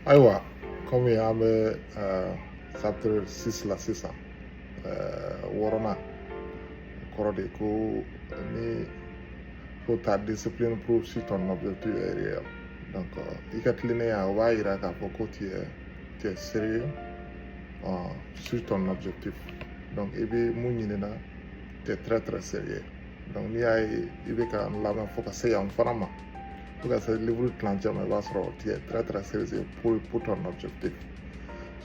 ayiwa kɔmi an bɛ chapter six la sisan wɔɔrɔnan kɔrɔ de ko ni ko ta discipline prouve si ton objectif est réel donc i ka tilennenya o b'a yira k'a fɔ ko tu es tu es sérieux sur ton objectif donc i bɛ mun ɲinina tu es très très sérieux donc n'i y'a ye i bɛ ka n lamɛn fo ka se yan fana ma fo ka se livre tilancɛ ma i b'a sɔrɔ tu es très très sérieux pour pour ton objectif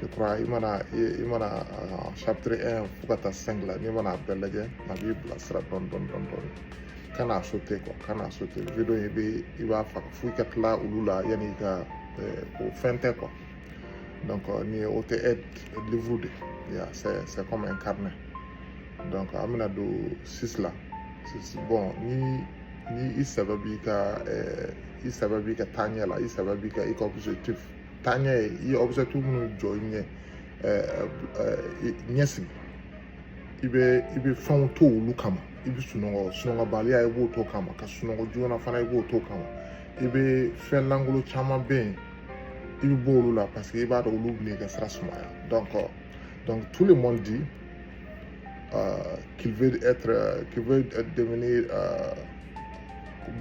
je crois i mana i mana chapitre 1 fo ka taa 5 la n'i mana a bɛɛ lajɛ a b'i bilasira dɔɔni dɔɔni dɔɔni dɔɔni kana sauter quoi kana sauter video in i bɛ i b'a faga fo i ka tila olu la yanni i ka o fɛn tɛ quoi donc ni o tɛ aide livre de c'est c'est comme un carnet donc an bɛna don six la six bon ni ni i sɛbɛ b'i ka ɛɛ i sɛbɛ b'i ka taaɲɛ la i sɛbɛ b'i ka i ka objectif taaɲɛ ye i y'objectif minnu jɔ i ɲɛ ɛɛ ɛɛ ɲɛ sigi i bɛ i bɛ fɛnw to olu kama i bɛ sunɔgɔ sunɔgɔbaliya i b'o to kama ka sunɔgɔ joona fana i b'o to kama i bɛ fɛn lankolon caman bɛ yen i bɛ bɔ olu la parce que i b'a dɔn olu bɛ n'i ka sira sumaya donc donc tout le monde dit Euh, qu'il veut être euh, qu'il veut devenir euh,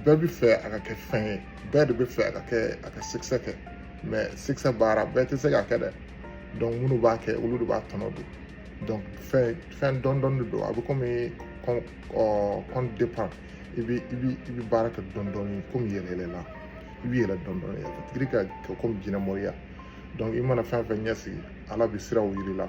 bɛɛ bɛ fɛ a ka kɛ fɛn ye bɛɛ de bɛ fɛ a ka kɛ a ka succès kɛ mais succès baara bɛɛ tɛ se k'a kɛ dɛ donc minnu b'a kɛ olu de b'a tɔnɔ dɔn donc fɛn fɛn dɔɔni dɔɔni de don a bɛ komi compte compte d'épargne i bɛ i bɛ i bɛ baara kɛ dɔɔni dɔɔni komi yɛlɛ yɛlɛ la i bɛ yɛlɛ dɔɔni dɔɔni yɛlɛ ka tigi ka kɛ komi jinɛmoriya donc i mana fɛn fɛn ɲɛsigi ala bɛ siraw yir'i la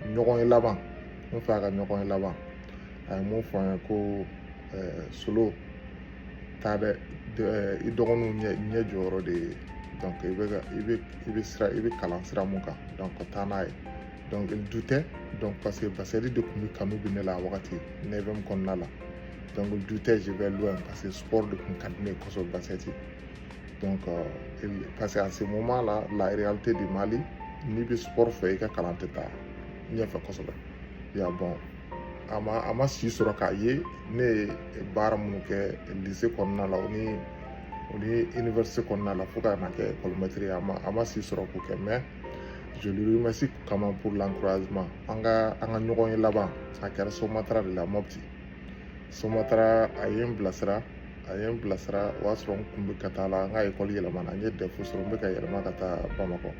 ɲɔgɔn ye laban n fa an ka ɲɔgɔn ye laban a ye mun fɔ an ye ko solo taa dɛ i dɔgɔninw ɲɛ ɲɛ jɔyɔrɔ de ye donc i bɛ ka i bɛ i bɛ sira i bɛ kalan sira mun kan donc taa n'a ye donc il doutait donc parce que basket de tun bɛ kanu bɛ ne la a wagati neuvième kɔnɔna la donc il doutait je vais loin parce que sport de tun ka di ne ye kosɛbɛ basket donc euh, parce que à ce moment là la réalité du Mali n'i bɛ sport fɛ i ka kalan tɛ taa ɲɛfɛ kosɛbɛ ya bon a ma a ma si sɔrɔ k'a ye ne ye baara minnu kɛ lycée kɔnɔna la o ni o ni université kɔnɔna la fo ka na kɛ école maître ye a ma a ma si sɔrɔ k'o kɛ mais je lui remercie quand même pour l'encouragement an ka an ka ɲɔgɔn ye laban a kɛra somatara de la mopti somatara a ye n bilasira a ye n bilasira o y'a sɔrɔ n kun bɛ ka taa la n ka ekɔli yɛlɛmana n ye dɛfu sɔrɔ n bɛ ka yɛlɛma ka taa bamakɔ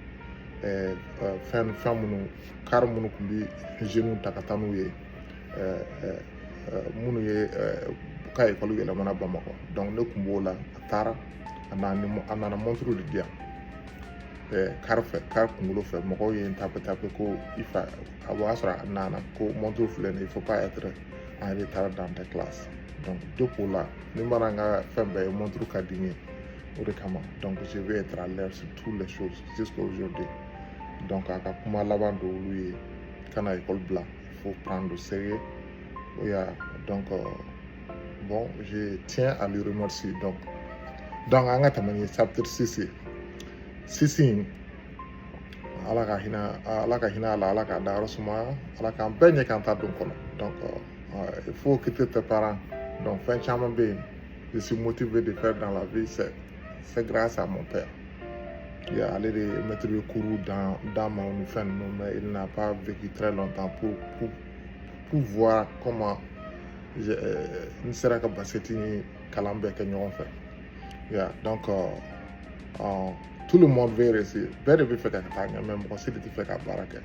fɛn fɛn minnu kari minnu tun bɛ zeniw ta ka taa n'u ye minnu ye ka ekɔli yɛlɛmana bamakɔ dɔnku ne tun b'o la a taara a nana mɔnturu de di yan kari fɛ kari kunkolo fɛ mɔgɔw ye n tape tape ko i fa a b'a sɔrɔ a nana ko mɔnturu filɛ nin il faut pas être en retard dans tes classes donc depuis o la ni mana n ka fɛn bɛɛ ye montre ka di n ye o de kama donc je vais être à l'heure sur toutes les choses jusqu'à aujourd'hui donc a ka kuma laban dɔ olu ye kana école bila il faut prendre au sérieux o y'a donc euh, bon je tiens à lui remercier donc donc an ka tɛmɛ ni chapitre six ye six in ala ka hinɛ ala ka hinɛ a la ala k'a dayɔrɔ sumaya ala k'an bɛɛ ɲɛ k'an ta don kɔnɔ donc il faut écouter tes parents donc fɛn caman bɛ yen je suis motivé de faire dans la vie c'est c'est grâce à mon père ya ale de ye mɛtiri bɛ kuru d'an ma ni fɛn ninnu mais il n'a pas vécu très longtemps pour pour pour voir comment n sera ka basket ni kalan bɛɛ kɛ ɲɔgɔn fɛ Yeah, donc euh, euh, tout le monde veut réussir. Bɛɛ de bɛ fɛ ka taa ɲɛ mais mɔgɔ si de tɛ fɛ ka baara kɛ.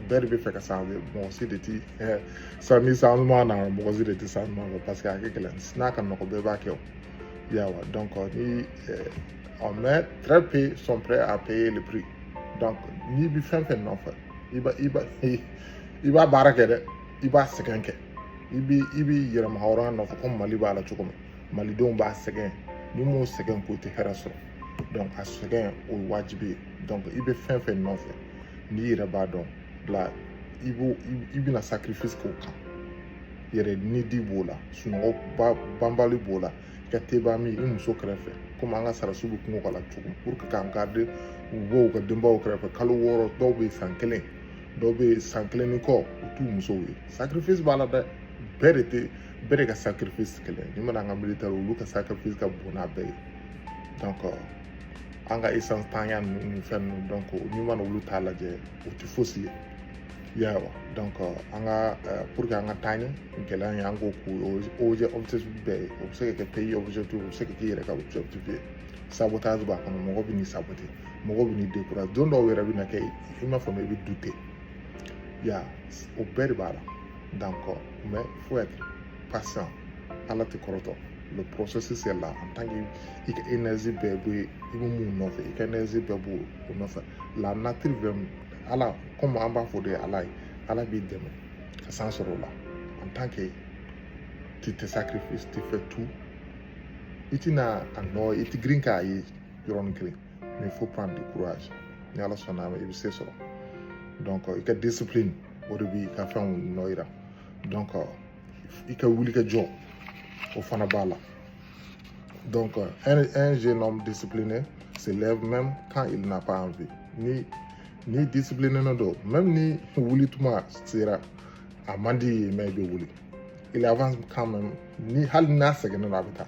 Bɛɛ de bɛ fɛ ka changer mɔgɔ si de ti eh, chan changement na mɔgɔ si de ti changement kɛ parce que a ka gɛlɛn n'a ka nɔgɔ bɛɛ b'a kɛ o. Yawa donc euh, ni eh, on mais très peu sont prêts à payer le prix. Donc n'i bɛ fɛn fɛn nɔfɛ i b'a i b'a i b'a baara kɛ dɛ i b'a sɛgɛn kɛ i b'i i b'i yɛrɛmahɔrɔnya nɔfɛ komi Mali b'a la cogo min. malidenw b'a sɛgɛn n'u m'o sɛgɛn k'u tɛ hɛrɛ sɔrɔ donc a sɛgɛn o ye wajibi ye donc i bɛ fɛn fɛn nɔfɛ n'i yɛrɛ b'a dɔn bila i b'o i bɛna sacrifice k'o kan yɛrɛ nidi b'o la sunɔgɔ banbali b'o la i ka teba min i muso kɛrɛfɛ komi an ka sɔrɔdasiw bɛ kungo k'a la cogo pour que k'an garde u bɔ u ka denbaw kɛrɛfɛ kalo wɔɔrɔ dɔw bɛ san kelen dɔw bɛ san kelen ni kɔ u t'u musow ye sacrifice b'a la dɛ bɛɛ de tɛ bɛɛ de ka sacrifice kelen ni mana an ka militaire olu ka sacrifice ka bon n'an bɛɛ ye donc euh, an ka essence ntanya ninnu ni fɛn ninnu donc n'i mana olu ta lajɛ o tɛ fosi ye yawa donc euh, an ka euh, pour que an ka taa ɲɛ gɛlɛya ye an k'o k'u objet objectif bɛɛ ye o bɛ se ka kɛ pays objectif o bɛ se ka k'i yɛrɛ ka objectif ye sabotage b'a kɔnɔ mɔgɔ bɛ n'i sabote mɔgɔ bɛ n'i décourage don dɔw yɛrɛ bɛna kɛ i m'a faamu i bɛ douter ya o bɛɛ de b'a la donc Mais faut être patient. Ala tɛ kɔrɔtɔ. Le processus est là. En tant que i ka énergie bɛɛ bɛ i bɛ mun nɔfɛ i ka énergie bɛɛ b'o nɔfɛ. La nature bɛ Ala comme an b'a fɔ de Ala ye Ala b'i dɛmɛ ka san sɔrɔ o la. En tant que tu te sacrifices, tu fais tout. I tɛna a nɔ i tɛ girin k'a ye yɔrɔnin kelen. mais il faut prendre du courage ni ala sɔnna ma i bɛ se sɔrɔ donc i ka discipline o de b'i ka fɛnw nɔ yira donc i ka wuli ka jɔ o fana b'a la donc un, un jeune homme discipliné se lève même quand il n'a pas envie ni ni discipliné na don même ni wuli tuma sera a man d'i ye mais i bɛ wuli il avance quand même ni hali n'a sɛgɛnnen don a bɛ taa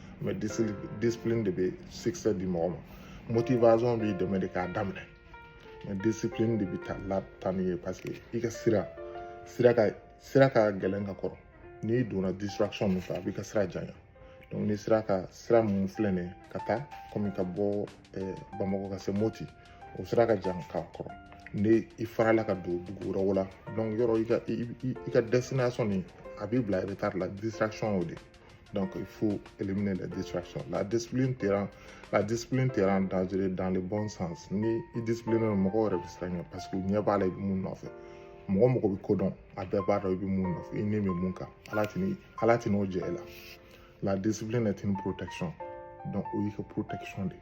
mais discipline de bɛ succès di mɔgɔ ma motivation b'i dɛmɛ de k'a daminɛ mais discipline de bɛ taa n'i ye parce que i ka sira sira ka sira ka gɛlɛn ka kɔrɔ n'i donna distraction min fɛ a b'i ka sira janya donc ni sira ka sira mun filɛ nin ye ka taa komi ka bɔ eh, bamakɔ ka se moti o sira ka jan ka kɔrɔ ni i farala ka don dugu wɛrɛw la donc yɔrɔ i ka i ka destination nin a b'i bila retard la distraction y'o de ye Donc il faut éliminer les distractions. La discipline te rend, la discipline te rend dangereux dans le bon sens. Ni i discipline mɔgɔw yɛrɛ bɛ siran i ɲɛ parce que u ɲɛ b'a la i bɛ mun nɔfɛ. Mɔgɔ o mɔgɔ bɛ ko dɔn a bɛɛ b'a dɔn i bɛ mun nɔfɛ i ni bɛ mun kan ala tɛ ni ala tɛn'o jɛ i la. La discipline est une protection donc o y'i ka protection de ye.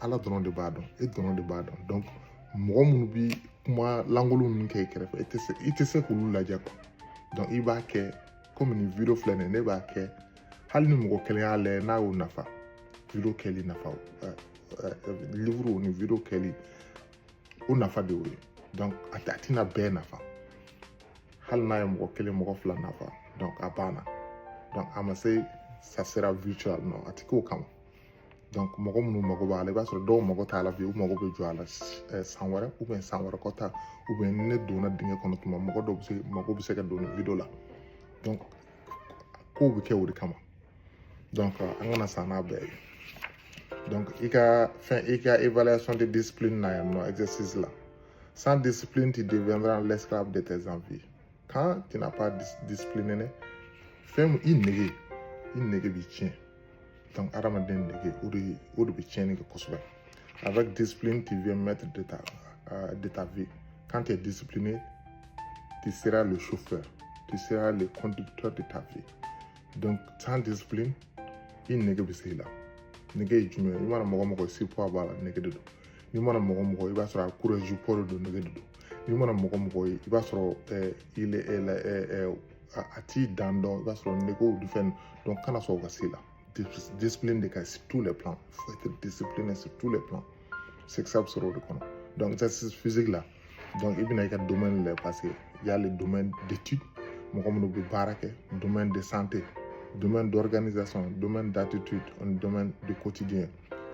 ala dɔrɔn de b'a dɔn e dɔrɔn de b'a dɔn donc mɔgɔ minnu bi kuma lankolon ninnu kɛ i kɛrɛfɛ i tɛ se i tɛ se k'olu lajɛ quoi donc i b'a kɛ komi nin video filɛ nin ye ne b'a kɛ hali ni mɔgɔ kelen y'a lajɛ n'a y'o nafa video kɛli nafa livre ni video kɛli o nafa de y'o ye donc a tɛ a tɛna bɛɛ nafa hali n'a ye mɔgɔ kelen mɔgɔ fila nafa donc a banna donc a ma se ça sera viral non a tɛ k'o kama mɔgɔ minnu mago b'a la i b'a sɔrɔ dɔw mago t'a la bi u mago bɛ jɔ a la san wɛrɛ san wɛrɛ kɔta ni ne donna dingɛ kɔnɔ tuma mɔgɔ dɔw bɛ se mago bɛ se ka don nin video la kow bɛ kɛ o de kama an kana sa n'a bɛɛ ye i ka fɛn i ka évaluation de discipline na yan nɔ exercice la sans discipline tu deviendras l'esclave de tes envies quand tu n'as pas discipliné fɛn i nege i nege b'i tiɲɛ donc adamaden nege o de o de bɛ tiɲɛni kɛ kosɛbɛ avec discipline tu viens maître de ta euh, de ta vie quand tu es discipliné tu seras le chauffeur tu seras le conducteur de ta vie donc sans discipline i nege bɛ se i la nege ye jumɛn ye i mana mɔgɔ mɔgɔ surpoids b'a la nege de don n'i mana mɔgɔ mɔgɔ i b'a sɔrɔ a courage poids de don nege de don i mana mɔgɔ mɔgɔ ye i b'a sɔrɔ a t'i dan dɔn i b'a sɔrɔ nege du fɛn donc kana sɔn o ka se i la discipline de ka sur tous les plans faut être discipliné sur tous les plans succès bɛ sɔrɔ o de kɔnɔ donc exercice physique la donc i bɛna i ka domaine lajɛ parce que y a le domaine d'étude mɔgɔ minnu bɛ baara kɛ domaine de santé domaine d'organisation domaine d'attitude ani domaine de quotidien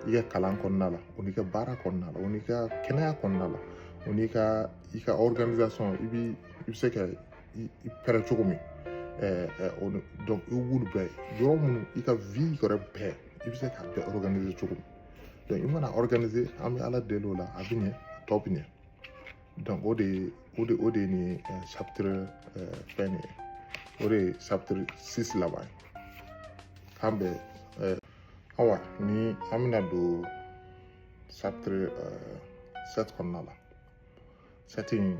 i ka kalan kɔnɔna la o n'i ka baara kɔnɔna la o n'i ka kɛnɛya kɔnɔna la o n'i ka i ka organisation i bi i bɛ se ka i pɛrɛ cogo min o donc i b'olu bɛɛ yɔrɔ minnu i ka vie yɛrɛ bɛɛ i bɛ se k'a bɛɛ organiser cogo min donc i mana organiser an bɛ ala deli o la a bɛ ɲɛ a tɔ bɛ ɲɛ donc o de ye o de o de ye nin chapitre fɛn nin ye o de ye chapitre six laban ye k'an bɛ awa ni an bɛna don chapitre eh, sept kɔnɔna la sept in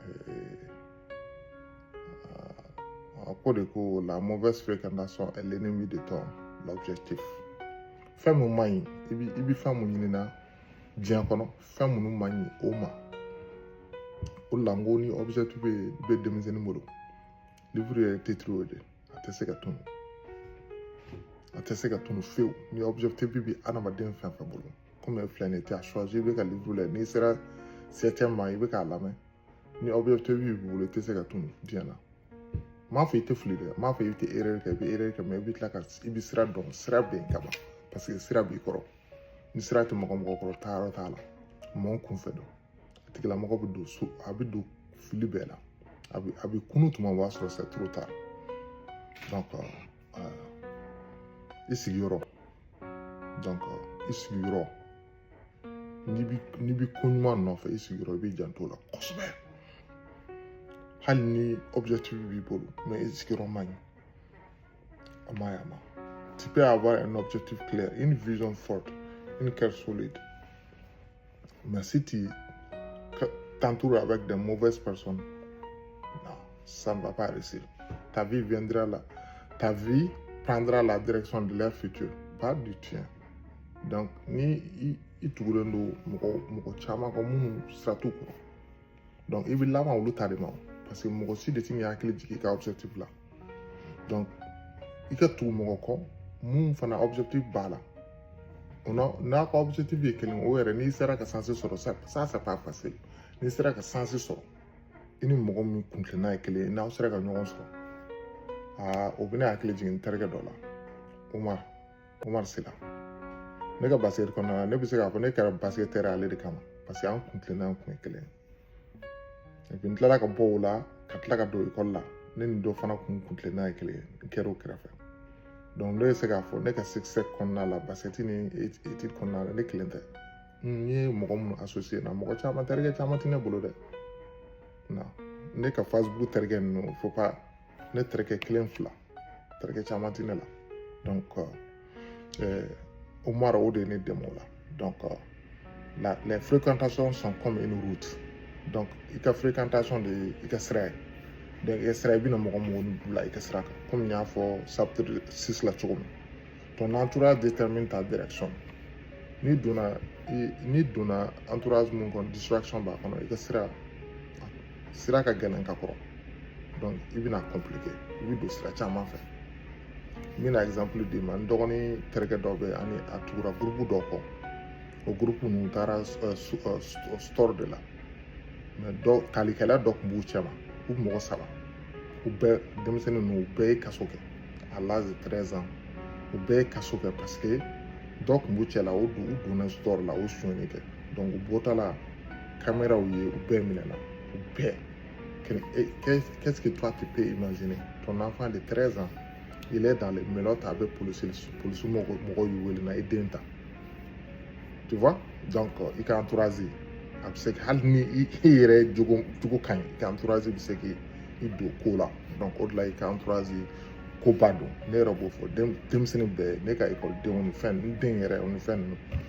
eh, a ko de ko la mauvaise fréquentation est l'ennemi de ton objectif fɛn mun man ɲi i bi i bi fɛn mun ɲini na diɲɛ kɔnɔ fɛn minnu man ɲi o ma o de la n ko ni objectif bɛ bɛ denmisɛnnin bolo livre yɛrɛ titre o de a tɛ se ka tunu a tɛ se ka tunu fewu ni objectif bi adamaden fɛn fɛn bolo komi filɛ nin ye tu as choisi i bɛ ka livre lajɛ n'i sera septième ma i bɛ k'a lamɛn ni objectif b'i bolo i tɛ se ka tunu diɲɛ na m'a fɔ i tɛ fili dɛ m'a fɔ i tɛ erreur kɛ i bɛ erreur kɛ mais i bɛ tila ka i bɛ sira dɔn sira bɛ yen kaban parce que sira b'i kɔrɔ ni sira tɛ mɔgɔ mɔgɔ kɔrɔ taayɔrɔ t'a la mɔgɔ kunfɛ don a tigilamɔgɔ bɛ don so a bɛ don fili bɛɛ la a bɛ a bɛ kunun tuma o b'a sɔrɔ c'est trop tard donc euh, i sigiyɔrɔ donc i sigiyɔrɔ n'i bi n'i bi ko ɲuman nɔfɛ i sigiyɔrɔ i b'i janto o la kosɛbɛ hali ni objectif b'i bolo mais i sigiyɔrɔ man ɲi a man ɲi a ma tu peux avoir un objectif clair une vision forte une cœur solide Mais si tu t'entoures avec de mauvaises personnes, non, ça ne va pas réussir. Ta vie viendra là. Ta vie prendra la direction de leur futur, pas du tien. Donc, ni i tugulen don mɔgɔ mɔgɔ caman kɔ minnu sira t'u kɔrɔ donc i bɛ laban olu ta de ma parce que mɔgɔ si de ti k'i hakili jigin i ka objectif la donc i ka tugu mɔgɔ kɔ min fana objectif b'a la n'a ka objectif ye kelen o yɛrɛ n'i sera ka sansi sɔrɔ ça ça c'est pas facile n'i sera ka sansi sɔrɔ i ni mɔgɔ min kuntilenna ye kelen ye n'aw sera ka ɲɔgɔn sɔrɔ aa o bɛ n hakili jigin n terikɛ dɔ la o ma Omar Sila. Ne ka basket kɔnɔna la ne bɛ se k'a fɔ ne kɛra basketteur ale de kama parce que an kuntilenna an kun ye kelen ye n tilala ka bɔ o la ka tila ka don ekɔli la ne ni dɔ fana kun kuntilenna ye kelen ye n kɛra o kɛrɛfɛ donc ne bɛ se k'a fɔ ne ka succès kɔnɔna la basket ni étude kɔnɔna la ne kelen tɛ n ye mɔgɔ minnu associé na mɔgɔ caman terikɛ caman tɛ ne bolo dɛ non ne ka Facebook terikɛ ninnu faut pas ne terikɛ kelen fila terikɛ caman tɛ ne la donc euh, Omar o de ye ne dɛmɛ o la donc euh, la les fréquentations sont comme une route donc i ka fréquentation de ye i ka sira ye donc i ka sira i bɛna mɔgɔ mɔgɔ ni bila i ka sira kan komi n y'a fɔ chapitre six la cogo min ton entourage détermine ta direction n'i donna n'i donna entourage min kɔnɔ distraction b'a kɔnɔ i ka sira sira ka gɛlɛn ka kɔrɔ donc i bɛna compliqué i bɛ don sira caman fɛ n bɛna exemple d'i ma n dɔgɔnin terikɛ dɔ bɛ ani a tugura gurupu dɔ kɔ o gurupu ninnu taara euh, euh, euh, store de la mais dɔ talikɛla dɔ tun b'u cɛma u mɔgɔ saba u bɛɛ denmisɛnnin ninnu u bɛɛ ye kaso kɛ à l'âge de 13 ans u bɛɛ ye kaso kɛ parce que dɔ tun b'u cɛ la o donna store la o sonyani kɛ donc u bɔtɔla caméras ye u bɛɛ minɛna u bɛɛ qu'est-ce que toi tu peux imaginer ton enfant de 13 ans il est dans les menottes a bɛ polisi polisi mɔgɔ mɔgɔ y'u wele na i den ta tu vois donc i ka entourage a bɛ se hali ni i yɛrɛ jogo jogo ka ɲi i ka entourage bɛ se k'i i don ko la donc o de la i ka entourage koba don ne yɛrɛ b'o fɔ denmisɛnnin bɛɛ ne ka ekɔlidenw ni fɛn n den yɛrɛ o ni fɛn ninnu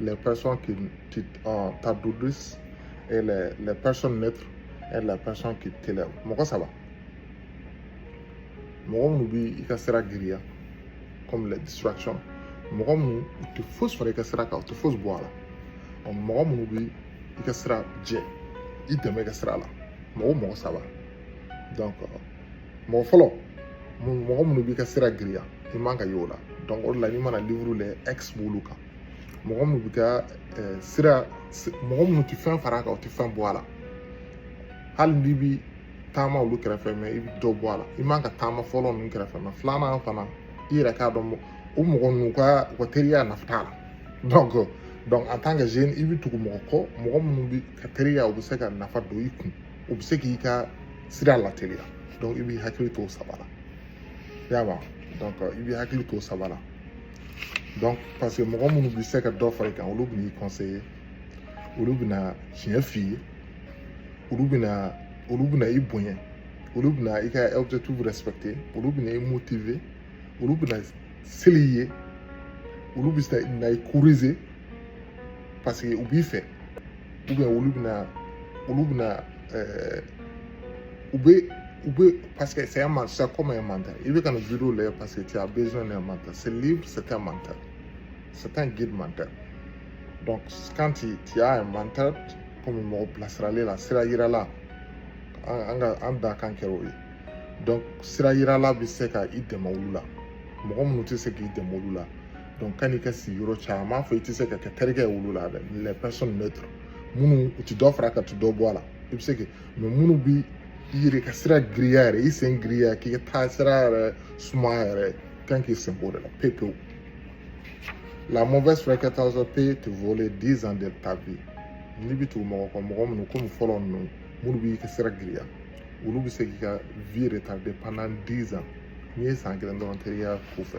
les personnes qui euh, t'alourdissent et les, les personnes neutres et les personnes qui t'élèvent mɔgɔ saba mɔgɔ minnu bɛ i ka sira giriya comme les distractions mɔgɔ minnu u tɛ fosi fara i ka sira kan u tɛ fosi bɔ a la ɔ mɔgɔ minnu bɛ i ka sira jɛ i dɛmɛ i ka sira la mɔgɔ mɔgɔ saba donc euh, mɔgɔ fɔlɔ mɔgɔ minnu b'i ka sira giriya i man ka y'o la donc o de la n'i mana livre lɛ X b'olu kan mɔgɔ minnu b'i ka sira mɔgɔ minnu tɛ fɛn fara a kan u tɛ fɛn bɔ a la hali n'i bi taama olu kɛrɛfɛ mais i bɛ dɔ bɔ a la i man ka taama fɔlɔ ninnu kɛrɛfɛ mais filanan fana i yɛrɛ k'a dɔn o mɔgɔ ninnu ka u ka teriya nafa t'a la donc donc en tant que jeune i bɛ tugu mɔgɔ kɔ mɔgɔ minnu bɛ ka teriya u bɛ se ka nafa don i kun u bɛ se k'i ka sira lateliya donc i b'i hakili to o saba la i y'a faamu donc i b'i hakili to o saba la. donc parce que mɔgɔ minnu bɛ se ka dɔ fara i kan olu bɛn'i conseiller olu bɛna tiɲɛ f'i ye olu bɛna olu bɛna i bonya olu bɛna i ka objectif respecter olu bɛna i motiver olu bɛna seli i ye olu bɛ na i corriger parce que u b'i fɛ olu bɛna olu bɛna ɛɛ u bɛ u bɛ parce que c'est un mentor c'est comme un mentor i bɛ ka nin video lajɛ parce que tu as besoin d'un mentor ce livre c'est un mentor c'est un guide mentor donc quand tu, tu as un mentor komi mɔgɔ bilasiralen la sira yirala an ka an da kan kɛra o ye donc sira yirala bɛ se ka i dɛmɛ olu la mɔgɔ minnu tɛ se k'i dɛmɛ olu la donc ka n'i ka sigi yɔrɔ caman n m'a fɔ i tɛ se ka kɛ terikɛ ye olu la dɛ les personnes neutres minnu u ti dɔ far'a kan u ti dɔ bɔ a la i bɛ se kɛ mais minnu bi i yɛrɛ ka sira giriya yɛrɛ i sen giriya k'i ka taa sira yɛrɛ sumaya yɛrɛ kan k'i sen b'o de la pewu pewu la mauvaise fréquentation peut te voler 10 ans de ta vie n'i bɛ tugu mɔgɔ kɔ mɔgɔ minnu komi fɔlɔ ninnu minnu b'i ka sira giriya olu bɛ se k'i ka vie retarder pendant 10 ans n'i ye san kelen dɔrɔn teriya ko fɛ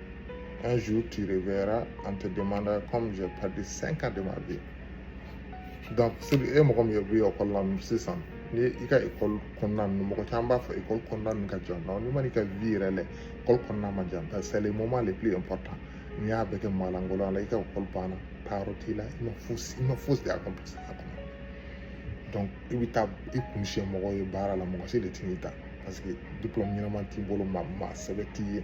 Un jour, tu reverras, en te demandant comme j'ai perdu 5 ans de ma vie. Donc, si vous avez mɔgɔ min ye u bɛ ekɔli la sisan ni i ka ekɔli kɔnɔna ninnu mɔgɔ caman b'a fɔ ekɔli kɔnɔna ninnu ka jan non n'i ma n'i ka vie yɛrɛ lajɛ ekɔli kɔnɔna ma jan parce que c'est le moment le plus important n'i y'a bɛɛ kɛ maalankolon la i ka ekɔli banna taa yɔrɔ t'i la i ma fosi i ma fosi de accomplir a kɔnɔ donc i bɛ taa i kun siɲɛ mɔgɔ ye baara la mɔgɔ si de t'i ta parce que diplôme ɲɛnama t'i bolo maa maa sɛbɛ t'i ye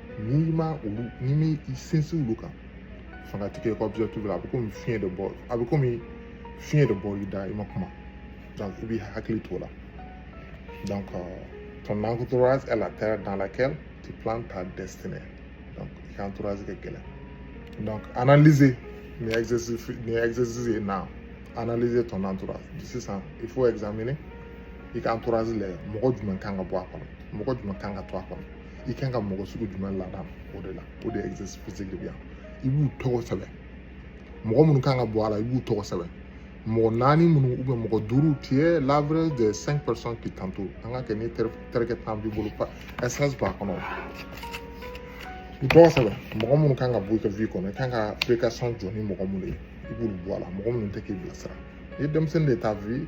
n'i ma olu n'i m'i sinsin olu kan fanga ti kɛ objectif la a bɛ komi fiɲɛ de bɔ a bɛ komi fiɲɛ de bɔr'i da i ma kuma donc i b'i hakili t'o la donc ton entourage est la terre dans laquelle tu plantes ta destinée donc i ka entourage ka gɛlɛn donc analyser nin exercice nin exercice ye na analyser ton entourage sisan il faut examiner i ka entourage lajɛ mɔgɔ jumɛn kan ka bɔ a kɔnɔ mɔgɔ jumɛn kan ka to a kɔnɔ i kan ka mɔgɔ sugu jumɛn ladon o de la o de exercice physique de bɛ yan i b'u tɔgɔ sɛbɛn mɔgɔ minnu kan ka bɔ a la i b'u tɔgɔ sɛbɛn mɔgɔ naani minnu ou bien mɔgɔ duuru tu es l'average de cinq personnes qui t'entourent an ka kɛ ni terikɛ tan b'i bolo ɛsɛs b'a kɔnɔ u tɔgɔ sɛbɛn mɔgɔ minnu kan ka bɔ i ka vie kɔnɔ i kan ka fréquentation jɔ ni mɔgɔ minnu ye i b'olu bɔ a la mɔgɔ minnu tɛ k'i bilasira i ye denmisɛnnin de ta vie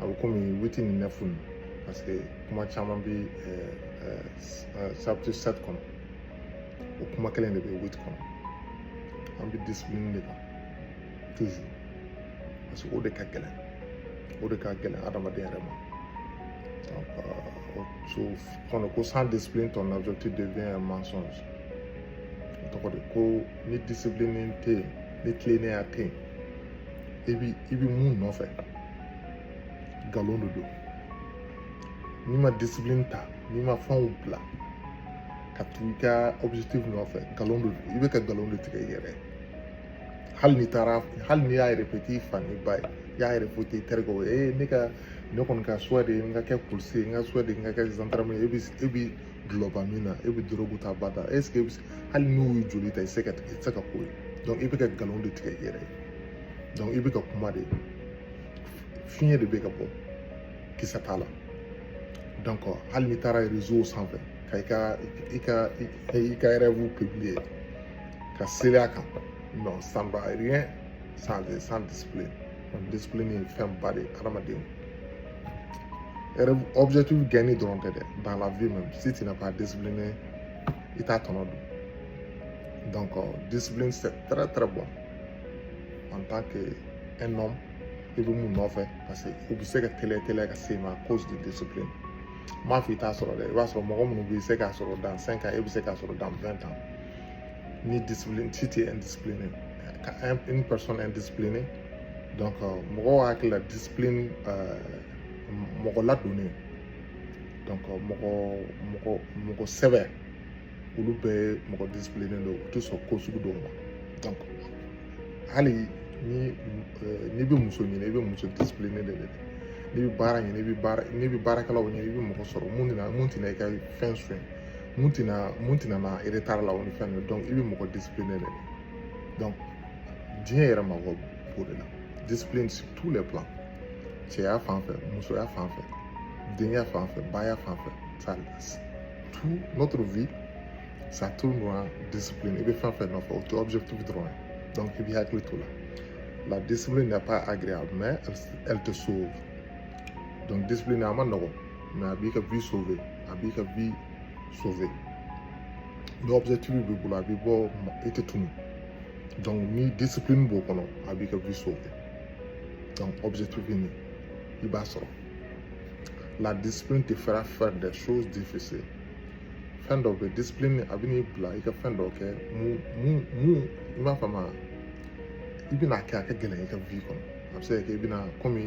a bɛ komi witi ni nɛfu nin parce que kuma caman bɛ chapitre sɛti kɔnɔ o kuma kelen de bɛ witi kɔnɔ an bɛ discipline de kan toujours parce que o de ka gɛlɛn o de ka gɛlɛn adamaden yɛrɛ ma donc euh, so kɔnɔ ko sans discipline ton objectif devient un mensonge o tɔgɔ de ko ni discipline tɛ yen ni tilennenya tɛ yen i bi i bi mun nɔfɛ nkalon de don n'i ma discipline ta n'i ma fɛnw bila ka tugu i ka objectif nɔfɛ nkalon de don i bɛ ka nkalon de tigɛ i yɛrɛ hali ni taara hali n'i y'a répéter i fa n'i ba ye i y'a répéter i terikɛw ye ne ka ne kɔni ka souhait de ye n ka kɛ polisi ye n ka souhait de ye n ka kɛ zandarame ye e bi e bi dulɔba min na e bi dorogu ta bada est ce que e bi hali n'u y'i joli ta i tɛ se ka i tɛ se ka k'o ye donc i bɛ ka nkalon de tigɛ i yɛrɛ ye donc i bɛ ka kuma de fiɲɛ de bɛ ka bɔ kisɛ t'a la donc hali n'i taara réseau sanfɛ ka i ka i ka i ka rêve publier ka seli a kan non ça ne va rien changer sans discipline discipline ye fɛnba de ye hadamaden objectif gagner dɔrɔn tɛ dɛ dans la vie même si tu n'as pas discipliné i t'a tɔnɔ dun donc euh, discipline c'est très très bon en tant que un homme i bɛ mun nɔfɛ parce que o bɛ se ka teliya teliya ka s'i ma à cause de discipline n m'a fɔ i t'a sɔrɔ dɛ i b'a sɔrɔ mɔgɔ minnu bɛ se k'a sɔrɔ dans cinq ans e bɛ se k'a sɔrɔ dans vingt ans ni discipline si t'es indiscipliné ka une personne indisciplinée donc euh, mɔgɔw hakili la discipline euh, mɔgɔ ladonnen donc euh, mɔgɔ mɔgɔ mɔgɔ sɛbɛ olu bɛɛ mɔgɔ discipliné don u tɛ sɔn ko sugu dɔw ma donc hali ni euh, n'i bɛ muso ɲini i bɛ muso discipliné de ɲini n'i bɛ baara ɲini i bɛ baara n'i bɛ baarakɛlaw ɲini i bɛ mɔgɔ sɔrɔ mun tɛna mun tɛna i ka fɛn sonya mun tɛna mun tɛna na retard la o ni fɛn ninnu donc i bɛ mɔgɔ discipliné de ɲini donc diɲɛ yɛrɛ mako b'o de la discipline sur tous les plans. cɛya fan fɛ musoya fan fɛ denkɛ fan fɛ baya fan fɛ ça tout notre vie ça tourne dans discipline i bɛ fɛn fɛn nɔfɛ o tɛ objectif dɔrɔn ye donc i b'i hakili t'o la la discipline n'est pas agréable mais elle te sauve donc discipline a man nɔgɔn mais a b'i ka vie sauver a b'i ka vie sauver ni objectif b'i bolo a b'i bɔ i tɛ tunu donc ni discipline b'o kɔnɔ a b'i ka vie sauver donc objectif ye nin i b'a sɔrɔ la discipline te fera faire des choses difficiles fɛn dɔw bɛ discipline a bɛn'i bila i ka fɛn dɔw kɛ mun mun mun i m'a faamu i bɛna kɛ a ka gɛlɛn i ka vie kɔnɔ a bɛ se ka kɛ i bɛna komi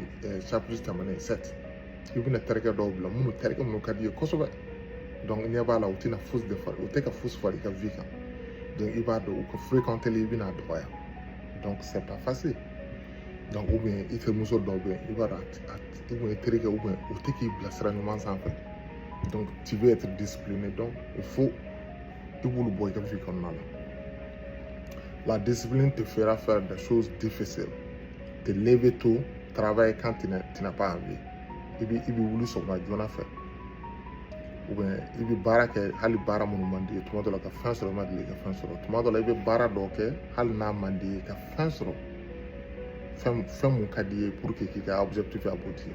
chapitre tɛmɛnen sept i bɛna terikɛ dɔw bila minnu terikɛ minnu ka di i ye kosɛbɛ donc ɲɛ b'a la u tɛna fosi de fara u tɛ ka fosi fara i ka vie kan donc i b'a dɔn u ka fréquenteli i bɛna dɔgɔya donc c'est pas facile donc ou bien i terimuso dɔw bɛ i b'a dɔn a ou bien terikɛ ou bien u tɛ k'i bila sira ɲuman sanfɛ donc tu veux être discipliné donc il faut i b'olu bɔ i ka vie kɔnɔna la la discipline te fera faire des choses difficiles te lever tôt travailler quand tu n'as pas envie i bɛ i bɛ wuli sɔgɔma joona fɛ i bɛ baara kɛ hali baara minnu man di ye tuma dɔ la ka fɛn sɔrɔ i ma deli ka fɛn sɔrɔ tuma dɔ la i bɛ baara dɔ kɛ hali n'a man di ye ka fɛn sɔrɔ fɛn fɛn mun ka di ye pour que k'i ka objectif aboutir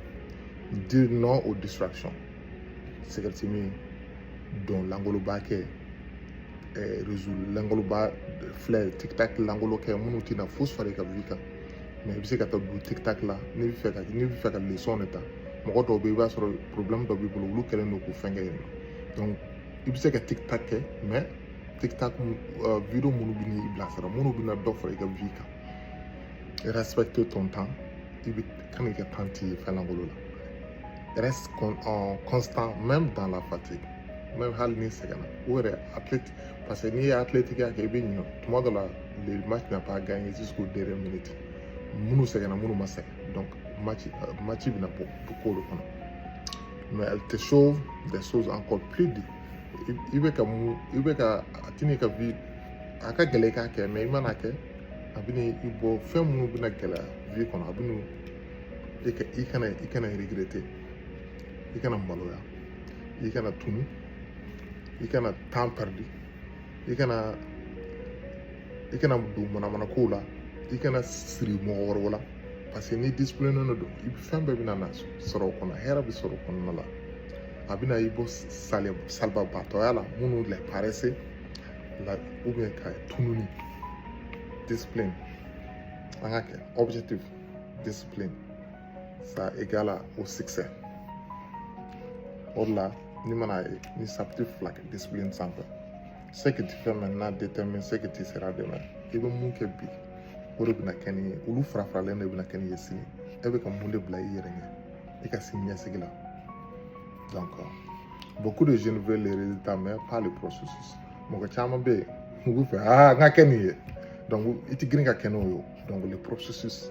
dire non aux distractions sigarɛti min dɔn langoloba kɛ réseau langoloba filɛ tiktak langolo kɛ minnu tɛna fosi far'i ka vie kan mais i bɛ se ka taa don tiktak la n'i bɛ fɛ ka n'i bɛ fɛ ka leçon de ta mɔgɔ dɔw bɛ i b'a sɔrɔ problème dɔ b'i bolo olu kɛlen don k'u fɛn kɛ yen nɔ i bɛ se ka tiktak kɛ mais tiktak video minnu bɛn'i bilasira minnu bɛna dɔ fara i ka vie kan respecter ton temps i bɛ kan k'i ka temps tiɲɛ fɛn lankolon la reste con, euh, constant même dans la fatigue même hali n'i sɛgɛnna o yɛrɛ athlète Parce que n'i ye athlétique kɛ i bɛ ɲinɛ tuma dɔ la le match n'a pas gagné jusqu'au dernier minute minnu sɛgɛnna minnu ma sɛgɛn donc match euh, match bɛna bɔ du ko de kɔnɔ mais elle te sauve des choses encore plus dures i bɛ ka mun i bɛ ka a tɛna ka vie a ka gɛlɛn i k'a kɛ mais i mana kɛ a bɛna i bɔ fɛn minnu bɛna gɛlɛya vie kɔnɔ a bɛna i ka i kana i kana regretter i kana maloya i kana tunu i kana temps perdu i kana i kana don manamana kow la i kana siri mɔgɔ wɛrɛw la parce que ni discipline nɔ don i fɛn bɛɛ bɛna na sɔrɔ o kɔnɔ hɛrɛ bɛ sɔrɔ o kɔnɔna la a bɛna i bɔ sali salibagatɔya la minnu la paresse la ou bien ka tununi discipline an ka kɛ objectif discipline ça égale au succès o de la ni mana ye ni chapitre fila kɛ discipline sanfɛ ce que tu fais maintenant détermine ce que tu seras demain i bɛ mun kɛ bi o de bɛna kɛ ni ye olu farafaralen de bɛna kɛ ni ye sini e bɛ ka mun de bila i yɛrɛ ɲɛ i ka sini ɲɛsigi la donc beaucoup de jeunes veulent les résultats mais pas le processus mɔgɔ caman bɛ yen u bɛ fɛ aa n ka kɛ nin ye donc i tɛ girin ka kɛ n'o ye donc le processus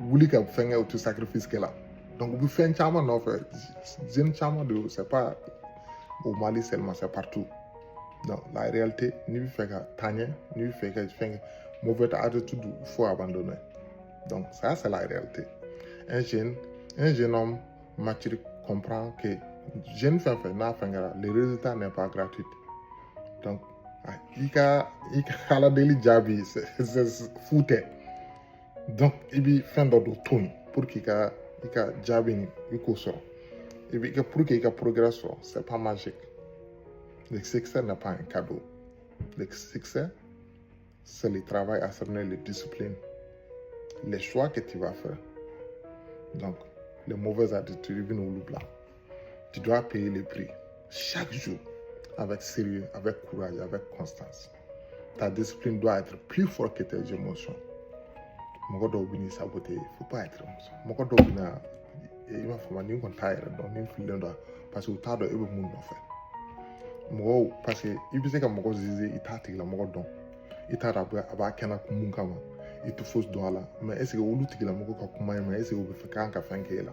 wuli ka fɛnkɛ u tɛ sacrifice kɛ la donc u bɛ fɛn caman nɔfɛ jeune caman de c'est pas au Mali seulement c'est partout donc la réalité n'i bɛ fɛ ka taa ɲɛ n'i bɛ fɛ ka fɛn kɛ mauvaise attitude faut abandonner donc ça c'est la réalité un jeune un jeune homme mature comprend que jeune fɛn fɛn n'a fɛn kɛra le résultat n'est pas gratuit donc i ka i ka ala deli jaabi fu tɛ donc i bi fɛn dɔ don to yen pour que i ka i ka jaabi nin i k'o sɔrɔ i bi i ka pour que i ka progrès sɔrɔ c'est pas magique le succès n'est pas un cadeau le succès c'est le travail acharné le discipline les choix que tu vas faire donc les mauvaises attitudes i bin'olu bila Tu dois payer le prix chaque jour avec sérieux, avec courage, avec constance. Ta discipline doit être plus forte que tes émotions. mɔgɔ dɔw bɛn'i saboter faut pas être mɔgɔ dɔw bɛ na i b'a fɔ ma nin kɔni t'a yɛrɛ dɔn nin fililen don parce que u t'a dɔn e bɛ mun nɔfɛ mɔgɔw parce que i bɛ se ka mɔgɔ juger i t'a tigilamɔgɔ dɔn i t'a dɔn a b'a kɛnɛ kun mun kama i tɛ fosi dɔn a la mais est-ce que olu tigilamɔgɔ ka kuma ye mais est-ce que u bɛ fɛ kan ka fɛn k'e la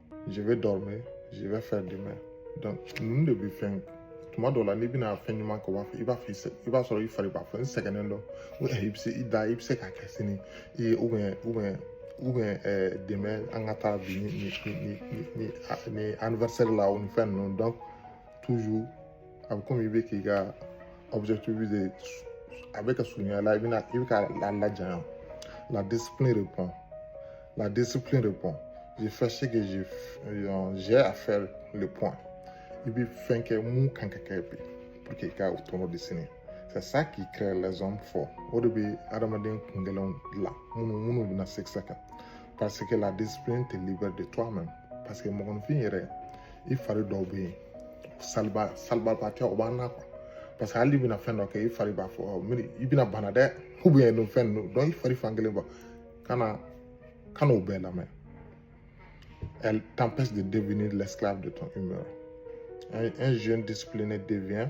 je vais dormir je vais faire demain donc ninnu de bɛ fɛn tuma dɔw la n'i bɛna fɛn ɲuman kɛ o b'a fɔ i b'a fɔ i b'a sɔrɔ i fari b'a fɔ n sɛgɛnnen don o i bɛ se i da i bɛ se k'a kɛ sini i ye ou bien ou bien ou bien ɛɛ demain an ka taa bi ni ni ni ni ni anniversaire la o ni fɛn ninnu donc toujours a bɛ komi i bɛ k'i ka objectif de a bɛ ka surunya la i bɛna i bɛ k'a la lajanya la discipline répond la discipline répond je fais ce que j'ai euh, j'ai à faire le point i bɛ fɛn kɛ mun kan ka kɛ bi pour que i ka o tɔnɔ dun sini c'est ça qui crée les hommes forts o de bɛ adamaden kungɛlɛnw la minnu minnu bɛna se sa kan parce que la discipline te libère de toi-même parce que mɔgɔninfin yɛrɛ i fari dɔw bɛ yen saliba salibaatɔya o b'an na quoi parce que hal'i bɛna fɛn dɔ kɛ i fari b'a fɔ mi i bɛna bana dɛ ou bien nin fɛn ninnu donc i fari fan kelen bɔ kana kana o bɛɛ lamɛn elle t'empêche de devenir l'esclave de ton humeur un, un jeune discipliné devient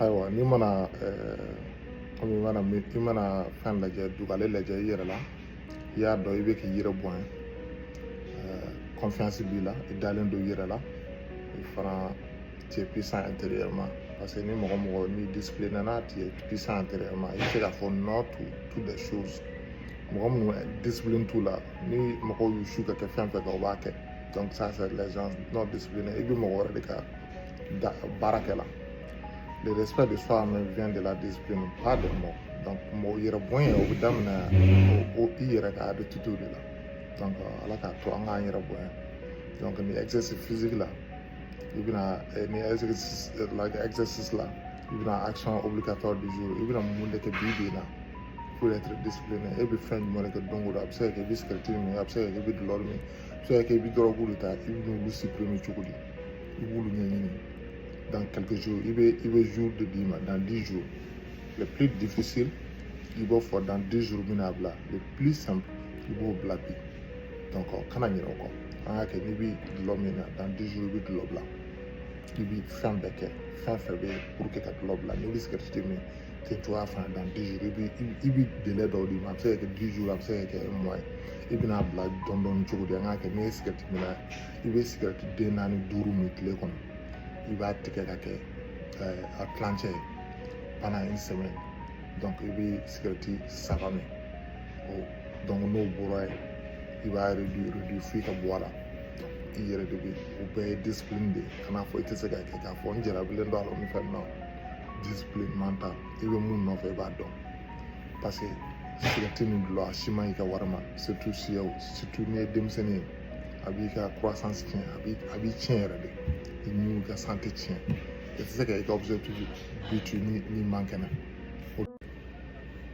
ayiwa n'i mana kɔmi i mana i mana fɛn lajɛ dugalen lajɛ i yɛrɛ la i y'a dɔn i bɛ k'i yɛrɛ bonya confiance b'i la i dalen don i yɛrɛ la i fana tu es puissant intérieurement parce que ni mɔgɔ mɔgɔ n'i discipliné na tu es puissant intérieurement i bɛ se k'a fɔ non to toutes les choses mɔgɔ minnu discipline t'u la ni mɔgɔw y'u su ka kɛ fɛn fɛn kan u b'a kɛ donc ça c'est les gens non disciplinés i bɛ mɔgɔ wɛrɛ de ka baara kɛ la le respect de soi même vient de la discipline pas de mots donc mɔgɔ yɛrɛ bonya o bɛ daminɛ o i yɛrɛ ka habitude de la donc ala k'a to an k'an yɛrɛ bonya donc ni exercice physique la i bɛna ni exercice la exercice la i bɛna action obligatoire du jour i bɛna mun de kɛ bi bi in na pour être discipliné e bɛ fɛn jumɛn de kɛ don o don a bɛ se ka kɛ i bɛ sigɛriti min a bɛ se ka kɛ i bɛ dulɔ min a bɛ se ka kɛ i bɛ dɔrɔgu de ta i bɛ n'olu supprimer cogo di i b'olu ɲɛɲini dans quelques jours i bɛ i bɛ jour de d'i ma dans dix jours le plus difficile i b'o fɔ dans dix jours bɛna bila le plus simple i b'o bila bi donc kana ɲinɛ o kɔ an k'a kɛ n'i bɛ dulɔ min na dans dix jours i bɛ dulɔ bila i bɛ fɛn bɛɛ kɛ fɛn fɛn bɛ yen pour que ka dulɔ bila n'i bɛ sigɛriti de min ten cogoya fana dans dix jours i bɛ i bɛ délai dɔw d'i ma a bɛ se ka kɛ dix jours a bɛ se ka kɛ un mois ye i bɛna bila dɔɔnin dɔɔnin cogo di an k'a kɛ n'i ye sigɛriti min na i bɛ sigɛriti den naani duuru min tile kɔnɔ i b'a tigɛ ka kɛ a tilancɛ ye pendant une semaine i bɛ sigɛriti saba min o n'o bɔra yen i b'a réduire f'i ka bɔ a la i yɛrɛ de bɛ o bɛɛ ye discipline de ye kan'a fɔ i tɛ se ka kɛ k'a fɔ n jarabilen don a la ni fɛn na discipline mentale i bɛ mun nɔfɛ i b'a dɔn parce que sigɛriti ni dulɔ a si man ɲi ka wari ma surtout n'i ye denmisɛnnin ye a b'i ka croissance tiɲɛ a b'i a b'i tiɲɛ yɛrɛ de i ni ka santé tiɲɛ i tɛ se ka i ka objectif bitu ni n'i man kɛnɛ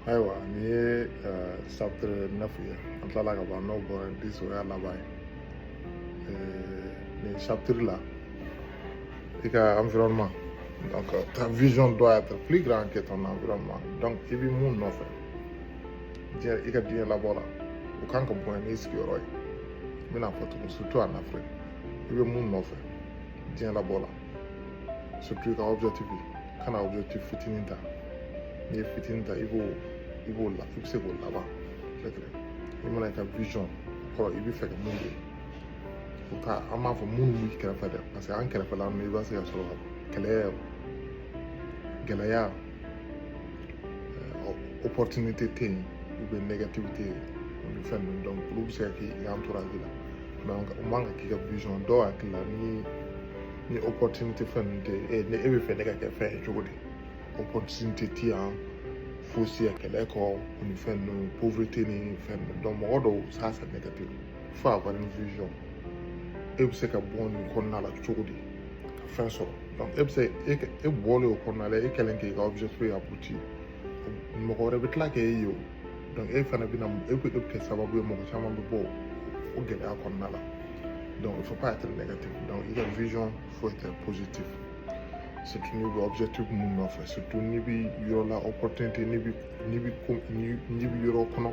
ayiwa nin ye chapitre neuf ye an tilala ka ban n'o bɔra dix o y'a laban ye nin chapitre la i ka environnement Donc, euh, ta vision doit être plus grande que ton environnement. donc i bɛ mun nɔfɛ diɲɛ i ka diɲɛ labɔ la o kan ka bonya n'i sigiyɔrɔ ye n bɛna fɔ tugun surtout en Afrique i bɛ mun nɔfɛ diɲɛ labɔ la surtout i ka objectif kana objectif fitinin ta n'i ye fitinin ta i b'o i b'o la i bɛ se k'o laban i mana i ka vision kɔrɔ i bɛ fɛ ka mun de o ka an b'a fɔ minnu b'i kɛrɛfɛ dɛ parce que an kɛrɛfɛla ninnu i b'a se ka sɔrɔ kɛlɛ gɛlɛya euh, opportunité tɛ yen ou bien négativité ni fɛn ninnu donc olu bɛ se ka k'i entourage la donc o man kan k'i ka vision dɔw hakili la ni ni opportunité fɛn ninnu tɛ yen ni e bɛ fɛ ne ka kɛ fɛn ye cogo di opportunité tɛ yan fosi yan kɛlɛko ni fɛn ninnu pauvreté ni fɛn ninnu donc mɔgɔ dɔw ça c'est négatif Faut avoir une vision e bɛ se ka bɔ nin kɔnɔna la cogo di ka fɛn sɔrɔ donc e bɛ se e e bɔlen o kɔnɔna la e kɛlen k'i ka objectif aboutir mɔgɔ wɛrɛ bɛ tila k'e ye o donc e fana bɛna e bɛ e bɛ kɛ sababu ye mɔgɔ caman bɛ bɔ o gɛlɛya kɔnɔna la donc il faut pas être négatif donc i ka vision faut être positif surtout n'i bɛ objectif mun nɔfɛ surtout n'i bɛ yɔrɔ la opportunité n'i bɛ n'i bɛ ko n'i bɛ yɔrɔ kɔnɔ.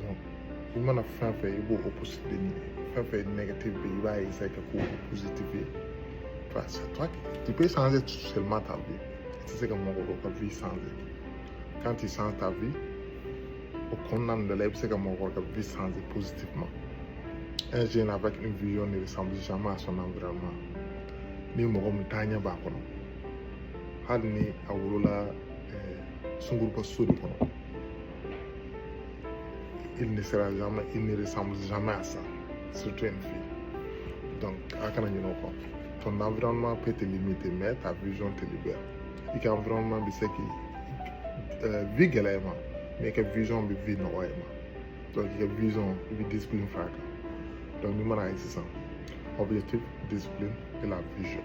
donc i mana fɛn fɛn i b'o opposite de ɲini fɛn fɛn ye négatif bɛ i b'a essayer ka k'o positif ye enfin c'est toi qui tu peux changer seulement ta vie i tɛ se ka mɔgɔ dɔ ka vie changer quand tu changes ta vie o kɔnɔna nin de la i bɛ se ka mɔgɔ dɔ ka vie changer positivement un jeune avec une vision ne ressemble jamais à son environnement ni mɔgɔ min taaɲɛ b'a kɔnɔ hali ni a wolola sunguruba so de kɔnɔ il ne sera jamais il ne ressemble jamais à ça surtout une fille donc a kana ɲinɛ o kɔ ton environnement peut te limiter mais ta vision te libère i ka environnement bɛ se k'i euh, vie gɛlɛya i ma mais i ka vision bɛ vie nɔgɔya i ma donc i ka vision i bɛ discipline fara a kan donc n'i mana ye sisan objectif discipline et la vision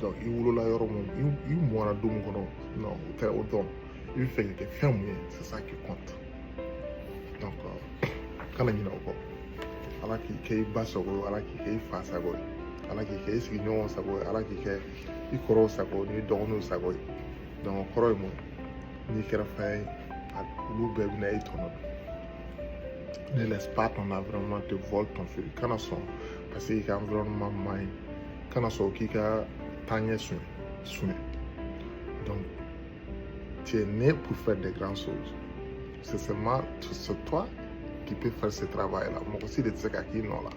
donc i wolola yɔrɔ mun i mɔna du mun kɔnɔ non o tɛ o dɔn i bɛ fɛ ka kɛ fɛn mun ye c'est ça qui compte donc euh, kana ɲinɛ o kɔ ala k'i kɛ i ba sago ye ala k'i kɛ i fa sago ye ala k'i kɛ i sigiɲɔgɔnw sago ye ala k'i kɛ i kɔrɔw sago n'i dɔgɔninw sago ye donc o kɔrɔ ye mun n'i kɛra fɛn ye olu bɛɛ bɛna i tɔnɔ dun ne laisse pas ton environnement te voler ton fil kana sɔn parce que i ka environnement man ɲi kana sɔn k'i ka taaɲɛ sonya donc tu es né pour faire des grandes choses c'est seulement c'est toi qui peut faire ce travail là mɔgɔ si de tɛ se ka k'i nɔ la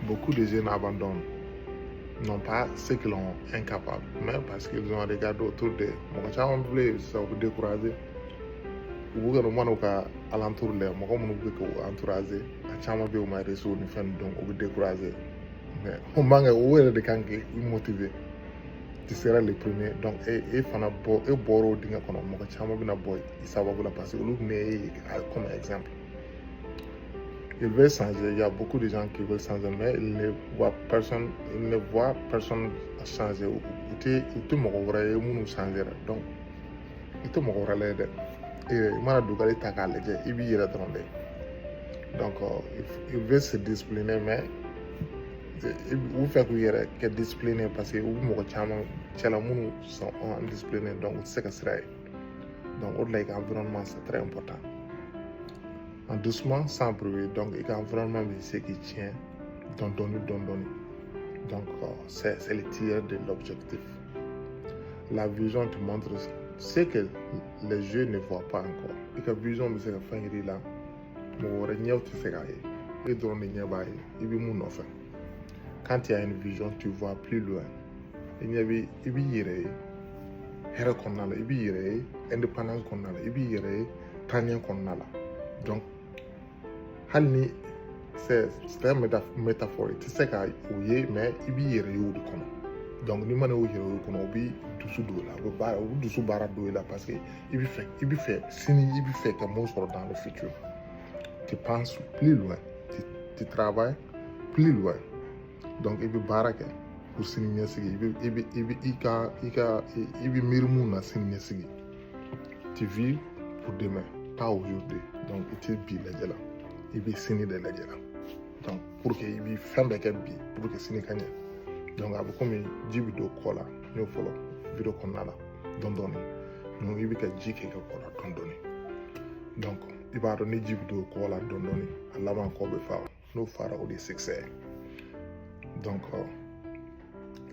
beaucoup de jeunes abandonnent non parce qu'ils sont incapables mais parce qu'ils ont regardé autour d'eux mɔgɔ caman bɛ yen sisan u bɛ décourager u b'u ka u mana u ka alentour lajɛ mɔgɔ minnu bɛ k'u entourager a caman bɛ yen u ma réussir ni fɛn ninnu donc u bɛ décourager mais o man kan o yɛrɛ de kan k'i motiver tu seras le premier donc e e fana bɔ e bɔra o dingɛ kɔnɔ mɔgɔ caman bɛna bɔ i sababu la parce que olu bɛn'i ye comme exemple ils veulent changer il y a beaucoup de gens qui veulent changer mais ils ne voient personne ils ne voient personne changer u tɛ u tɛ mɔgɔ wɛrɛ ye minnu changera donc i tɛ mɔgɔ wɛrɛ lajɛ dɛ i mana dugalen ta k'a lajɛ i b'i yɛrɛ dɔrɔn de donc ils veulent se discipliner mais u fɛ k'u yɛrɛ kɛ discipliné parce que u bɛ mɔgɔ caman cɛla minnu sont indisciplinés donc u tɛ se ka sira ye donc o de la i ka environnement c'est très important en doucement sans bruit donc i ka environnement bɛ se k'i tiɲɛ dɔɔni dɔɔni dɔɔni donc c'est le tueur de l'objectif La vision te montre ce que les yeux ne voient pas encore. I ka vision bɛ se ka fɛn yira i la mɔgɔ wɛrɛ ɲɛw tɛ se k'a ye e dɔrɔn de ɲɛ b'a ye i bɛ mun nɔfɛ quand tu as une vision tu vois plus loin i ɲɛ bɛ i b'i yɛrɛ ye hɛrɛ kɔnɔna la i b'i yɛrɛ ye indépendance kɔnɔna la i b'i yɛrɛ ye taaɲɛ kɔnɔna la donc hali ni c'est un métaphore i tɛ se ka o ye mais i b'i yɛrɛ ye o de kɔnɔ donc n'i mana o yɛrɛ ye o kɔnɔ o bɛ dusu don i la o bɛ baara o bɛ dusu baara don i la parce que i bɛ fɛ i bɛ fɛ sini i bɛ fɛ ka mun sɔrɔ dans le futur tu penses plus loin tu tu travailles plus loin donc i bɛ baara kɛ pour sini ɲɛsigi i bɛ i bɛ i bɛ i ka i ka i bɛ miiri mun na sini ɲɛsigi. Tu vis pour demain, pas aujourd'hui. Donc, i tɛ bi lajɛ la, i bɛ sini de lajɛ la. Donc, pour que i bɛ fɛn bɛɛ kɛ bi, pour que sini ka ɲɛ. Donc, a bɛ komi ji bɛ don kɔ la, n y'o fɔlɔ video kɔnɔna la dɔɔni dɔɔni. Donc, i bɛ ka ji kɛ i ka kɔ la dɔɔni dɔɔni. Donc, i b'a dɔn ni ji bɛ don kɔ la dɔɔni dɔɔni, a laban kɔ bɛ fa. n'o fara o de ye succès donc euh,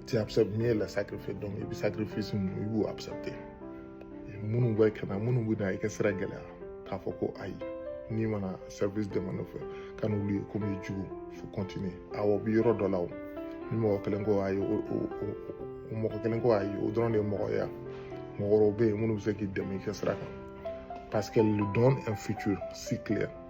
tu acceptes mieux le sacrifice donc i bɛ sacrifice ninnu i b'u accepter minnu bɛ ka na minnu bɛ na i ka sira gɛlɛya k'a fɔ ko ayi n'i mana service demander u fɛ kan'olu ye komi i jugu faut continuer awɔ bɛ yɔrɔ dɔ la o ni mɔgɔ kelen ko ayi o o o mɔgɔ kelen ko ayi o dɔrɔn de ye mɔgɔ ye mɔgɔ wɛrɛw bɛ yen minnu bɛ se k'i dɛmɛ i ka sira kan parce qu'elle lui donne un futur si clair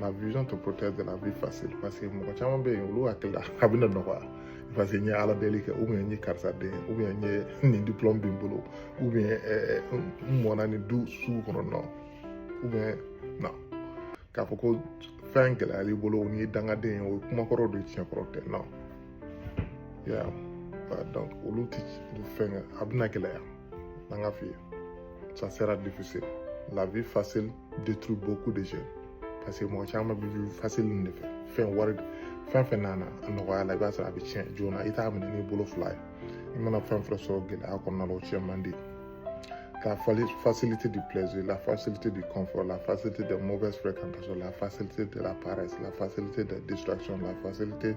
la vision te protège de la vie facile parce que mɔgɔ caman bɛ yen olu hakili la a bɛna nɔgɔya parce que n ye ala deli kɛ ou bien n ye karisa den ou bien n ye nin diplɔmu bɛ n bolo ou bien ɛɛ n mɔna nin du sugu kɔnɔ non ou bien non k'a fɔ ko fɛn gɛlɛyal'i bolo n'i ye dangaden ye o ye kumakɔrɔ de ye tiɲɛkɔrɔ tɛ non donc olu tɛ fɛn a bɛna gɛlɛya an ka f'i ye ça sera difficile la vie facile détruit beaucoup de jeunes parce que mɔgɔ caman bɛ vie facile nin de fɛ fɛn wari fɛn fɛn nana a nɔgɔya la i b'a sɔrɔ a bɛ tiɲɛ joona i t'a minɛ n'i bolo fila ye i mana fɛn fɛn sɔrɔ gɛlɛya kɔnɔna la o tiɲɛ man di la facilité du plaisir, la facilité du confort, la facilité des mauvaises fréquentations, la facilité de la paresse, la facilité de la distraction, la facilité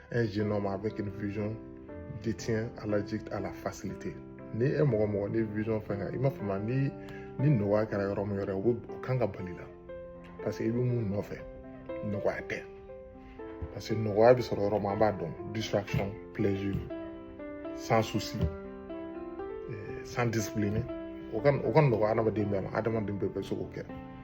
un jeune homme avec une vision devient allergique à la facilité ni e mɔgɔ mɔgɔ ni vision fɛn kan i m'a faamuya ni ni nɔgɔya kɛra yɔrɔ min yɔrɔ o kan ka bali la parce que i bɛ mun nɔfɛ nɔgɔya tɛ parce que nɔgɔya bɛ sɔrɔ yɔrɔ min an b'a dɔn distraction plaisir sans souci sans discipline o ka o ka nɔgɔ adamaden bɛɛ ma adamaden bɛɛ bɛ se k'o kɛ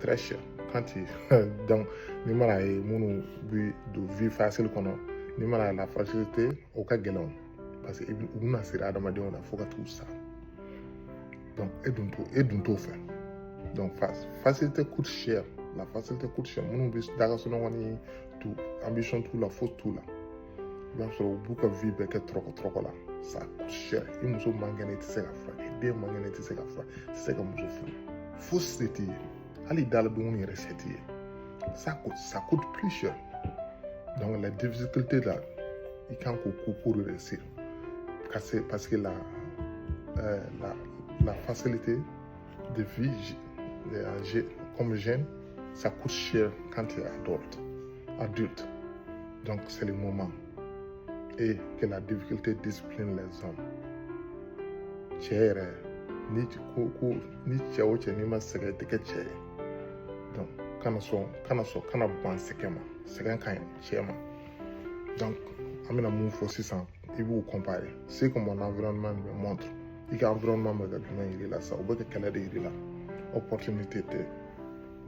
très cher quand il donc ni mana ye minnu bi don vie facile kɔnɔ ni mana la facilité o ka gɛlɛn o parce que u bɛna siri adamadenw na fo ka t'u sa donc e dun t'o e dun t'o fɛ donc facilité coûte cher la facilité coûte cher minnu bɛ da ka sunɔgɔ ni tout ambition t'u la foyi t'u la i b'a sɔrɔ u b'u ka vie bɛɛ kɛ tɔrɔkɔ tɔrɔkɔ la ça coûte cher i muso man kɛnɛ i tɛ se k'a furakɛ den man kɛnɛ i tɛ se k'a furakɛ i tɛ se ka muso furu foyi se t'i ye hali dala dumuni yɛrɛ se t'i ye ça coûte ça coûte plus cher donc la difficulté là i kan k'o kun pour réussir parce que la euh, la la facilité de vie euh, comme jeune, ça coûte cher quand tu es adulte. adulte. Donc c'est le moment. Et que la difficulté discipline les hommes. Cɛ yɛrɛ ni ko ko ni cɛ o cɛ n'i ma sɛgɛn i tɛ kɛ cɛ ye donc kana sɔn kana sɔn kana ban sɛgɛn ma sɛgɛn ka ɲi cɛ ma donc an bɛna mun fɔ sisan i b'u comparer ce que mon environnement me montre i ka environnement bɛ ka jumɛn yir'i la sisan o bɛ ka kɛlɛ de yir'i la opportunité tɛ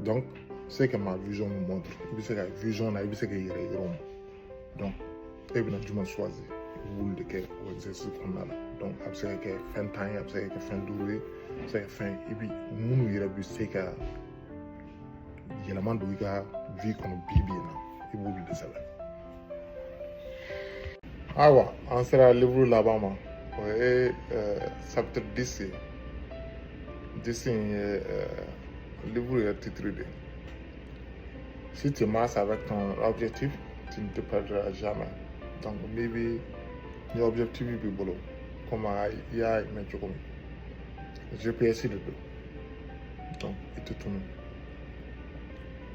donc ce que ma vision me montre i bɛ se ka vision na i bɛ se k'i yɛrɛ yɔrɔ min donc e bɛna jumɛn choisir i b'olu de kɛ o exercice kɔnɔna la donc a bɛ se ka kɛ fɛn tan ye a bɛ se ka kɛ fɛn duuru ye a bɛ se ka kɛ fɛn i bi minnu yɛrɛ bɛ se ka yɛlɛma don i ka vie kɔnɔ bi bi in na i b'olu de sɛbɛn ayiwa an sera livre laban ma o ye chapitre dix ye dix in ye livre yɛrɛ titre de ye si tu marches avec ton objectif tu ne te perdras jamais donc n'i bɛ ni objectif b'i bolo comme a i y'a mɛn cogo min GPS de don donc i tɛ tunun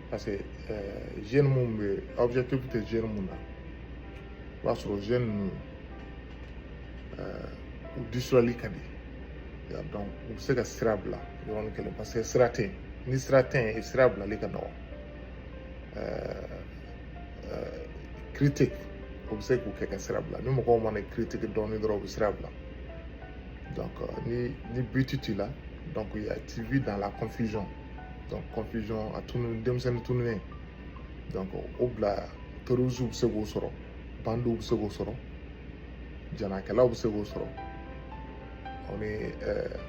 parce que euh, jeune mun bɛ objectif tɛ jeune mun na i b'a sɔrɔ jeune ninnu u disulali ka di donc u bɛ se ka sira bila yɔrɔnin kelen parce que sira tɛ yen ni sira tɛ yen sira bilali ka nɔgɔn critique o bɛ se k'u kɛ ka sira bila ni mɔgɔw mana critique dɔɔnin dɔrɔn u bɛ sira bila donc ni ni but t'i la donc tu vis dans la confusion donc confusion a tunu denmisɛnnin tununen donc o bila terroristes bɛ se k'o sɔrɔ bandiw bɛ se k'o sɔrɔ janakɛlaw bɛ se k'o sɔrɔ o ni ɛɛ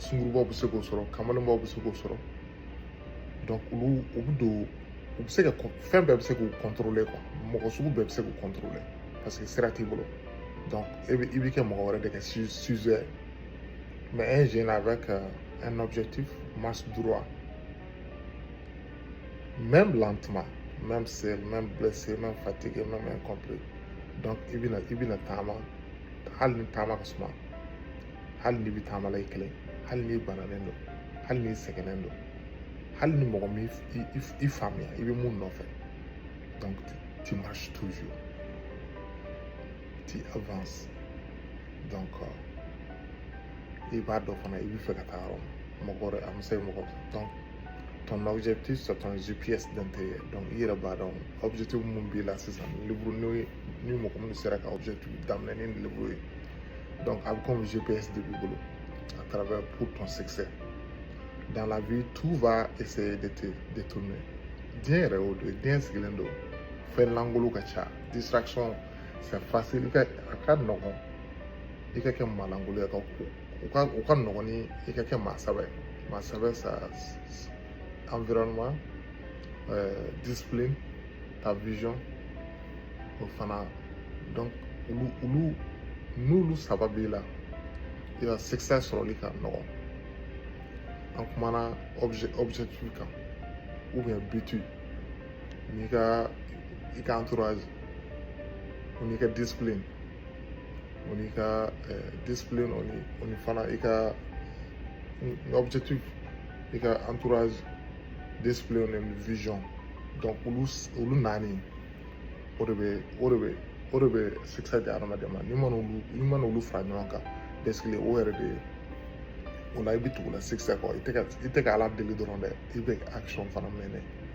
sungurubaw bɛ se k'o sɔrɔ kamalenbaw bɛ se k'o sɔrɔ donc olu u bɛ don u bɛ se ka fɛn bɛɛ bɛ se k'u contrôler quoi mɔgɔ sugu bɛɛ bɛ se k'u contrôler parce que sira t'i bolo donc e bɛ i bɛ kɛ mɔgɔ wɛrɛ de ka sujet Mais un jeune avec euh, un objectif marche droit. Même lentement, même seul, même blessé, même fatigué, même incompris. Donc, i bɛna taama, hali ni taama ka suma hali n'i bɛ taama la i kelen hali n'i bananen don hali n'i sɛgɛnnen don hali ni mɔgɔ m'i faamuya i bɛ mun nɔfɛ donc tu marches toujours tu avances donc i b'a dɔn fana i bɛ fɛ ka taa yɔrɔ min mɔgɔ wɛrɛ a ma se mɔgɔ donc ton objectif c'est ton GPS d'intérieur donc i yɛrɛ b'a dɔn objectif mun b'i la sisan livre n'o ye ni mɔgɔ minnu sera ka objectif daminɛ ni livre ye donc a bɛ komi GPS de b'i bolo à travers pour ton succès dans la vie tout va essayer de te détourner diɲɛ yɛrɛ y'o de ye diɲɛ sigilen don fɛn lankolon ka ca distraction c'est facile ka a ka nɔgɔn i ka kɛ maa lankolon ye ka ko o ka o ka nɔgɔn ni i ka kɛ maa sɛbɛ ye maa sɛbɛ sa environnement euh, discipline ta vision o fana donc olu olu n'olu saba b'i la i ka succès sɔrɔli ka nɔgɔn an kumana objet objectif kan ou bien but ni ka i ka entourage o n'i ka discipline o n'i ka eh, discipline o ni o ni fana i ka objectif i ka entourage discipline ni vision donc olu olu naani o de bɛ o de bɛ o de bɛ succès di adamaden ma n'i mana olu n'i mana olu fara ɲɔgɔn kan dɛsɛkile o yɛrɛ de ye o la i bɛ tugu la succès kɔ i tɛ ka i tɛ ka ala deli dɔrɔn dɛ i bɛ action fana mener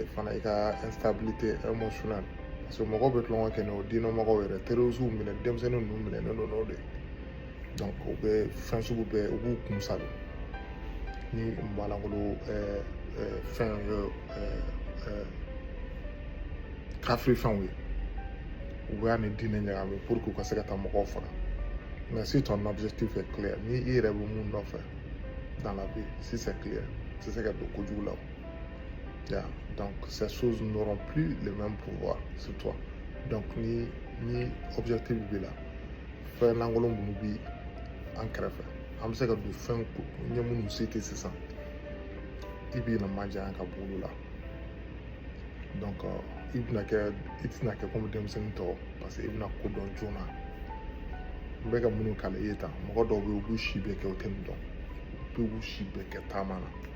i fana i ka instabilité émotionnelle parce que mɔgɔw bɛ tulonkɛ kɛ n'o diinɛmɔgɔw yɛrɛ terroristuw minɛ denmisɛnnin ninnu minɛ ne n'o de donc u bɛ fɛn sugu bɛɛ u b'u kun sa don ni maalankolon ɛɛ ɛɛ fɛn ye ɛɛ ɛɛ kafiri fɛnw ye u b'a ni diinɛ ɲagami pour que u ka se ka taa mɔgɔw faga mais si ton objectif est clair ni i yɛrɛ bɛ mun nɔfɛ dans la vie si c'est clair tɛ se ka don kojugu la Donc, ces choses n'auront plus le même pouvoir sur toi. Donc, ni, ni objectif b'i la fɛn lankolon minnu bɛ an kɛrɛfɛ an bɛ se ka don fɛn ko ɲɛ minnu se tɛ sisan i bɛna majanya ka bɔ olu la donc i bɛna kɛ i tɛna kɛ komi denmisɛnnin tɔw parce que i bɛna ko dɔn joona n bɛ ka minnu kalan i ye tan mɔgɔ dɔw bɛ yen u b'u si bɛɛ kɛ u tɛ nin dɔn u b'u si bɛɛ kɛ taama na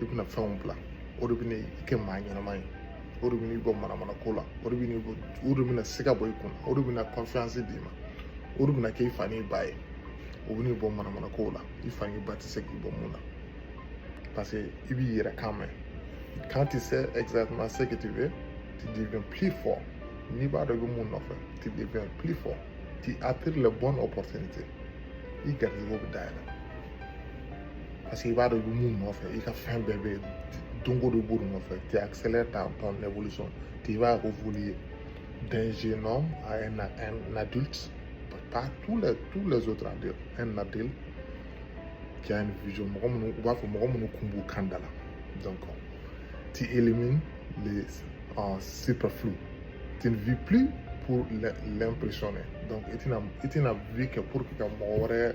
i bɛna fɛnw bila o de bɛna i kɛ maa ɲɛnama ye o de bɛna i bɔ manamana ko la o de bɛna i bɔ o de bɛna siga bɔ i kun o de bɛna confiance d'i ma o de bɛna kɛ i fa n'i ba ye o bɛna i bɔ manamana kow la i fa n'i ba tɛ se k'i bɔ min na parce que i b'i yɛrɛ kan mɛn quand tu sais exactement ce que tu veux tu deviens plus fort n'i b'a dɔn i bɛ mun nɔfɛ tu deviens plus fort tu attires les bonnes opportunités i garijɛgɛw bɛ dayɛlɛ parce que i b'a dɔn i bɛ mun nɔfɛ i ka fɛn bɛɛ bɛ don o don b'o de nɔfɛ tu accélères ta ton évolution tu vas évoluer d'un jeune homme à un, un adulte pas tous les tous les autres adultes un adulte qui a une vision mɔgɔ minnu u b'a fɔ mɔgɔ minnu kun b'u kan da la donc tu élimines les superflus tu ne vis plus pour l'impressionner donc i tɛna i tɛna vie kɛ pour que ka mɔgɔ wɛrɛ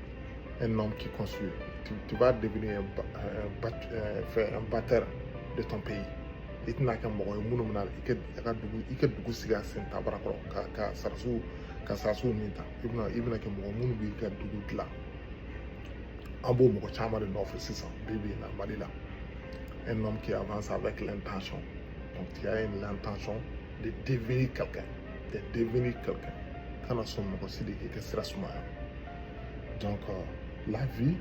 un homme qui construit. Tu, vas devenir un, un, un batteur de ton pays. i tɛna kɛ mɔgɔ ye minnu bɛna i ka dugu i ka dugu sigi a sen tabara kɔrɔ ka ka sarasiw ka sarasiw min ta i bɛna i bɛna kɛ mɔgɔ minnu b'i ka dugu dilan an b'o mɔgɔ caman de nɔfɛ sisan bi bi in na mali la un homme qui avance avec l'intention donc tu as l'intention de devenir quelqu'un de devenir quelqu'un kana sɔn mɔgɔ si de k'i ka sira sumaya Donc, euh, la vie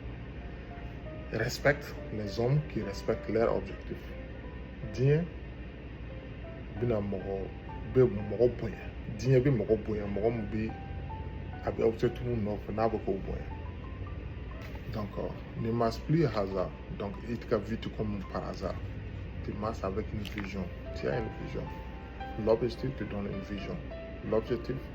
respecte les hommes qui respectent leurs objectifs. Diɲɛ bɛna mɔgɔ bɛ mɔgɔ bonya diɲɛ bɛ mɔgɔ bonya mɔgɔ min bɛ a bɛ objectif min nɔfɛ n'a bɛ k'o bonya donc euh, ne marche plus à hasard donc i t'i ka vie to comme par hasard tu marches avec une vision tu as une vision l'objectif te donne une vision l'objectif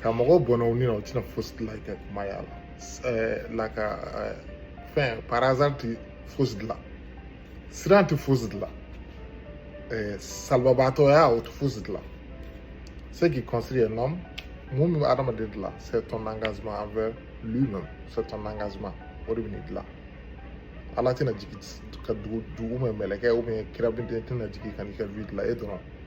ka mɔgɔ bɔnna u ni na o tɛna fosi dilan i ka maaya la ɛɛ la ka ɛɛ fɛn par hasard tɛ fosi dilan siran tɛ fosi dilan ɛɛ salabaatɔya o tɛ fosi dilan ce qui construit un homme mun bɛ adamaden dilan c'est ton engagement envers lui-même c'est ton engagement o de bɛ n'i dilan ala tɛna jigin ka dugu dugu mɛn mɛlɛkɛ ou bien kira bin tɛna jigin ka n'i ka vie dilan e dɔrɔn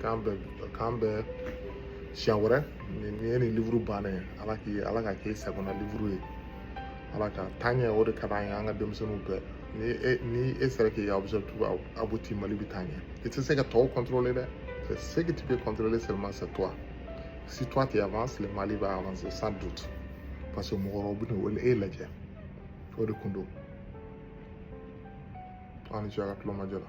k'an bɛn k'an bɛn siɲɛ wɛrɛ nin ye nin livuru bannen ye ala k'i ala k'a k'i sagona livuru ye ala ka taaɲɛ o de ka d'an ye an ka denmisɛnninw bɛɛ ni e ni e sera k'i ka objectif abouti mali bɛ taa ɲɛ i tɛ se ka tɔw kɔntɔrɔle dɛ c'est ce que tu peux contrôler seulement c'est toi si toi tu avances le mali va avancer sans doute parce que mɔgɔ dɔw bɛna e lajɛ o de kun don aw ni ce a ka tulomajɔ la